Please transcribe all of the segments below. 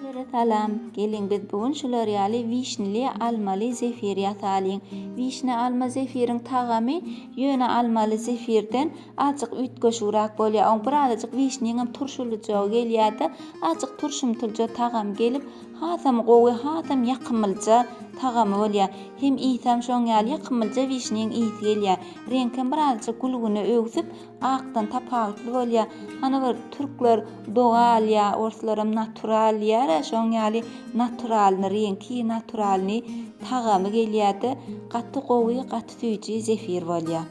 Hemmelere salam! Geliň biz bu gün şular ýaly wişnili, almaly zefir ýasalyň. Wişne alma zefiriň tagamy ýöne almaly zefirden azjyk üýtgeşigrak bolýar. Oň birazajyk wişniňem turşulyjagy gelýärde, azjyk turşumtylja tagamy gelip, hasam gowy, hasam ýakymylja tagamy bolýar. Hem isem şoň ýaly ýakymylja wişniň ysy gelýär. Reňkem birazajyk gülgüne öwsüp, Akdan tapawutly bolýa. Hany bir türkler doga alýa, orslaram natural diýära şoň ýaly naturalny reňki, naturalny tagamy gelýärde gaty gowy gaty süýji zefir bolýa.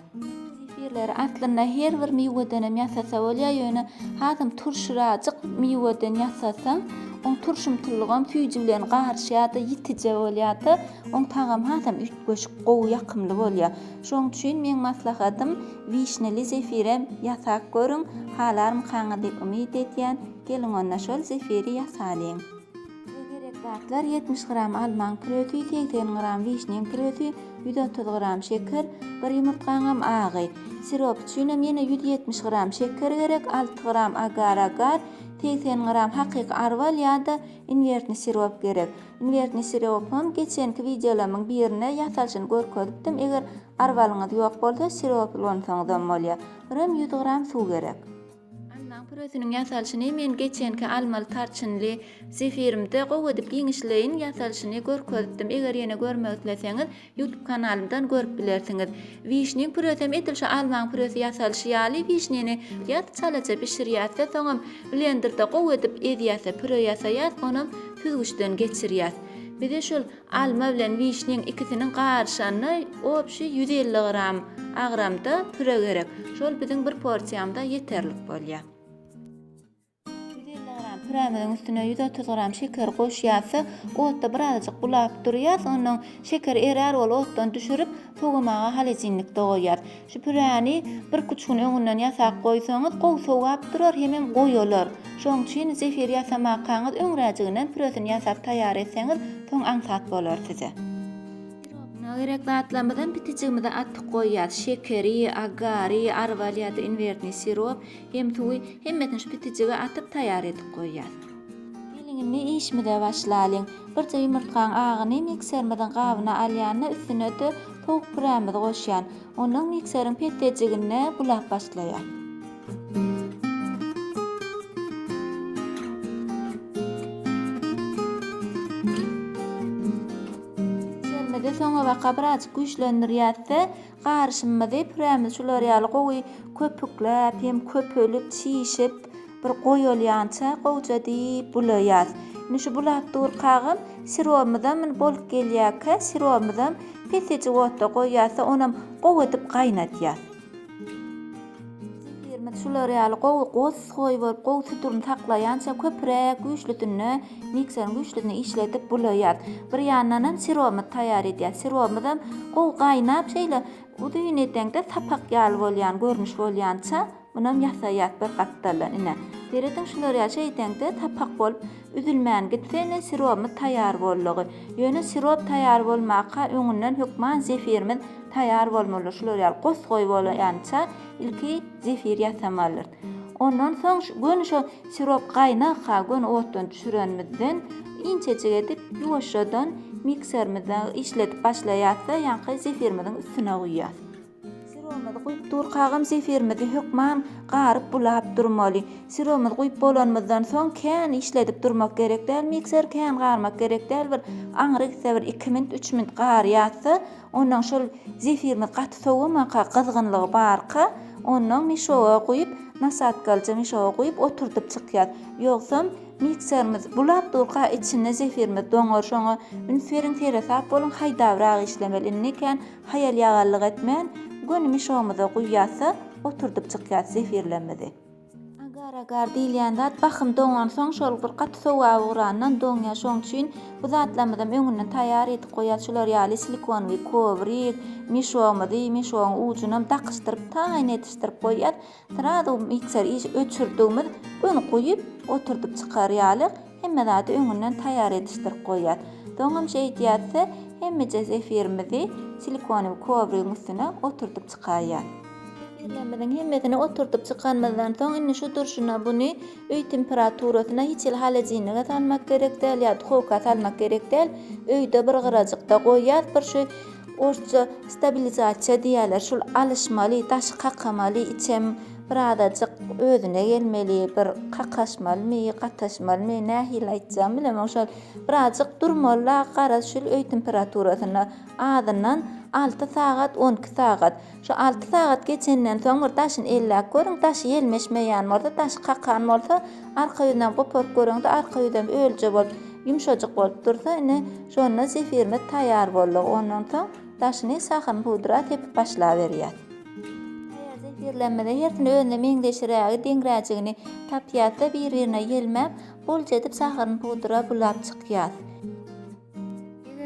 Zefirleri aslynda her bir miwedenem ýasasa bolýa ýöne hasam turşurajyk miweden ýasasaň oň turşumtylygam süýji bilen garyşýada ýitije bolýada oň tagamy hasam üýtgeşik gowy ýakymly bolýa. Şoň üçin meň maslahatym wişneli zefirem ýasap görüň, halarmykaňyz diýip umyt edýän, geliň onda şol zefiri ýasalyň. Size gerek zatlar ýetmiş gram almaň püresi, segsen gram wişniň püresi, ýüz otuz gram şeker, bir ýumurtgaňam agy. Sirop üçinem ýene ýüz ýetmiş gram şeker gerek, alty gram agar-agar, segsen gram hakyky arwal ýa-da inwertni sirop gerek. Invert ne siropam geçenki wideolarymyň birinde ýasalyşyny görkezipdim eger arwalyňyz ýok bolsa sirop ulansaňyzam bolýar. Birem ýüz gram suw gerek. Almaň püresiniň ýasalyşyny men geçenki almaly tarçynly zefirimde gowy edip giňişleýin ýasalyşyny görkezipdim eger ýene görmek isleseňiz Youtube kanalymdan görüp bilersiňiz. Wişniň püresem edil şu almaň püresi ýasalyşy ýaly wişnini ýat çalaja bişirýäsde soňam blenderde gowy edip ezýäsde püre ýasaýas onam süzgüçden geçirýäs. Bize şul alma bilen wişniň ikisiniň garyşanyny obşi ýüz elli gram agramda püre gerek. Şol biziň bir porsiýamyza ýeterlik bolýa. Ýüz elli gram pürämiziň üstüne ýüz otuz gram şeker goşýas-da, otda birazajyk bulap durýas, ondan şeker erär, ol otdan düşürip, sowamaga holodilnikde goýýas. Şu püräni birküç gün öňünden ýasap goýsaňyz, gowy sowap durar, hemem goýalar. Şoň üçin zefir ýasamakaňyz öňräjiginem püresini ýasap taýýar etseňiz, soň aňsat bolar size. Sirobuna gerek zatlarymyzam pitijigimize atyp goýýas, şekeri, agary, arwal ýa-da inwertni sirop, Hem suwy, hemmesini şu pitijige atyp taýýar edip goýýas. Geliň indi işimize başlalyň. Birje ýumurtgaň agyny mikserimiziň gabyna alýan-da üstüne-de towuk pürämizi goşýan. Ondan mikseriň petdejiginde bulap başlaýas. Mikserimizi soňabaka birazjyk güýçlendirýäs-de, Garyşymyzy pürämizi şular ýaly gowy köpükläp, hem köpelip, çişip, bir goýalýança gowja diýip bulaýas. Indi şu bulap durkagam sirogymyzam indi bolup gelýärkä, sirogymyzam pesejik otda goýýas-da, onam gowy edip gaýnadýas. Zikirimiz şular ýaly gowy gosgoý bolup gowy tuturyny saklaýança köpüräk güýçlüsinde mikserin güýçlüsinde işledip bulaýýas. Bir ýandan hem sirobymyzy taýýar edýäs. Sirobymyzam gowy gaýnap şeýle uzyn edeňde sapak ýaly bolýan görnüş bolýança munam ýasaýýas bir gapdaldan ine. Serediň şular ýaly şeýdeňde sapak bolup Üzülmän gitsene sirobymyz taýýar boldugy. Ýöne sirop taýýar bolmaka öňünden hökman zefirimiz taýýar bolmalydyr. Şular ýaly gos-goý bolýança ilki zefir ýasamalydyrys. Ondan soň göni şo sirop gaýnagka göni otdan düşürenimizden inçejik edip ýuwaşjadan mikserimizde işledip başlaýasda ýaňky zefirimiziň üstüne guýýas. Syromyzy guýup durkagam zefirimizi hökman garyp bulap durmaly. Syromyzy guýup bolanymyzdan soň kän işledip durmak gerek däl mikser kän garmak gerek däl bir aňry gitse bir iki minut üç minut garýatsa ondan şol zefirimiz gaty sowamaka gyzgynlygy barka ondan mişoga guýup nasadkalja mişoga guýup oturdyp çykýas ýogsam mikserimiz bulap durka içinde zefirimiz doňar şoňa üns beriň seresap boluň haýdabrak işlemeli indi kän Haýal-ýagallyk etmän, gönümi şomuza guýýasda, oturdyp çykýas zefirlemmizi. Agar-agar diýilýän zat bahym doňansoň şol bir gaty sowap ugrandan doňýar, şoň üçin bu zatlarymyzam öňünden taýýar edip goýas, şular ýaly silikonwyý kowrik, mişomuzy, mişogyň ujunam dakyşdyryp taýyn edişdirip goýýas, Srazu mikser işi öçürdigimiz gün guýup oturdyp çykar ýaly hemme zady öňünden taýýar edişdirip goýýas. Soňam şeýdýäsde hemmeje zefirimizi silikonowy kowrigiň üstüne oturdyp çykaýýas. Zefirlerimiziň hemmesini oturdyp çykanymyzdan soň indi şu durşuna buny öý temperaturasyna hiç hili holodilnige salmak gerek däl ýa duhowka salmak gerek däl öýde bir gyrajykda goýýas bir şu Orsça stabilizasiýa diýýärler, şul alyşmaly, daşy kakamaly, içem birazajyk özüne gelmeli, bir kakaşmalymy, gataşmalymy, nähili aýtjagymy bilemok, şol birazajyk durmaly-la, gara şul öý temperaturasyna, azyndan alty sagat, on iki sagat. Şu alty sagat geçenden soň bir daşyny elläp görüň, daşy ýelmeşmeýän bolsa, daşy kakan bolsa, arka ýüzünem goparyp görüň-de, arka ýüzem ölje bolup, ýumşajyk bolup dursa, ine, şonda zefirimiz taýýar boldy. Ondan soň daşyny şahyryň pudra sepip başlaberýäs. Eger zefirlerimizi hersini özüne meňzeşirägi, deňräjigini tapýasda, bir-birine ýelmäp, bolça edip şahyryny pudra bulap çykýas.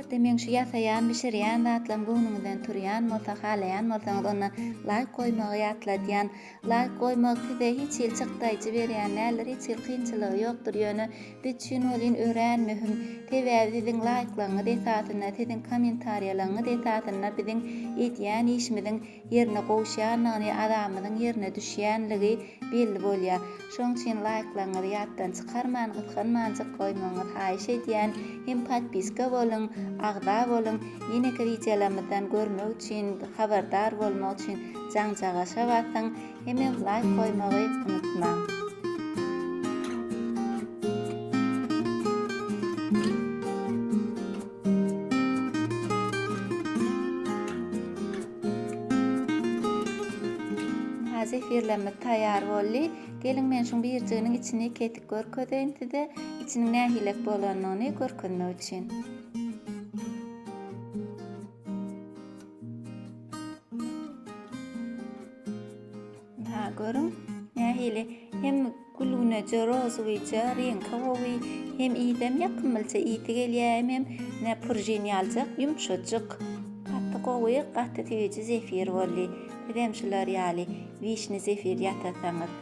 Eger-de meň şu ýasaýan, bişirýän zatlarym göwnüňizden turýan bolsa, halaýan bolsaňyz, onda laýk goýmagy ýatladýan. Laýk goýmak size hiç hili çykdaýjy berýän däldir, hiç hili kynçylygy ýokdur, ýöne biz üçin welin örän möhüm. Sebäbi siziň laýklaryňyz esasynda, siziň kommentariýalaryňyz esasynda biziň edýän işimiziň ýerine gowuşýandygyny, adamynyň ýerine düşýänligi belli bolýar. Şoň üçin laýklaryňyzy ýatdan çykarman, gysganmanjyk goýmagyňyzy haýyş edýän hem podpiska boluň, agza boluň, ýeneki wideolarymyzdan görmek üçin, habardar bolmak üçin jaňjagaşa basyň. Hemem laýk goýmagy unutmaň. Zefirlerimiz taýýar boldy. Geliň men şuň birjiginiň içini kesip görkezeýin size. Içiniň nähilek bolanyny görkezmek üçin. Daha görün nähili hem gülgüneje rozowyja reňki gowy hem idem ýakymlyja isi gelýär hem hem ne purjin ýaljak ýumşajyk gaty gowy gaty süýji zefir boldy sizem şular ýaly wişni zefir ýasasaňyz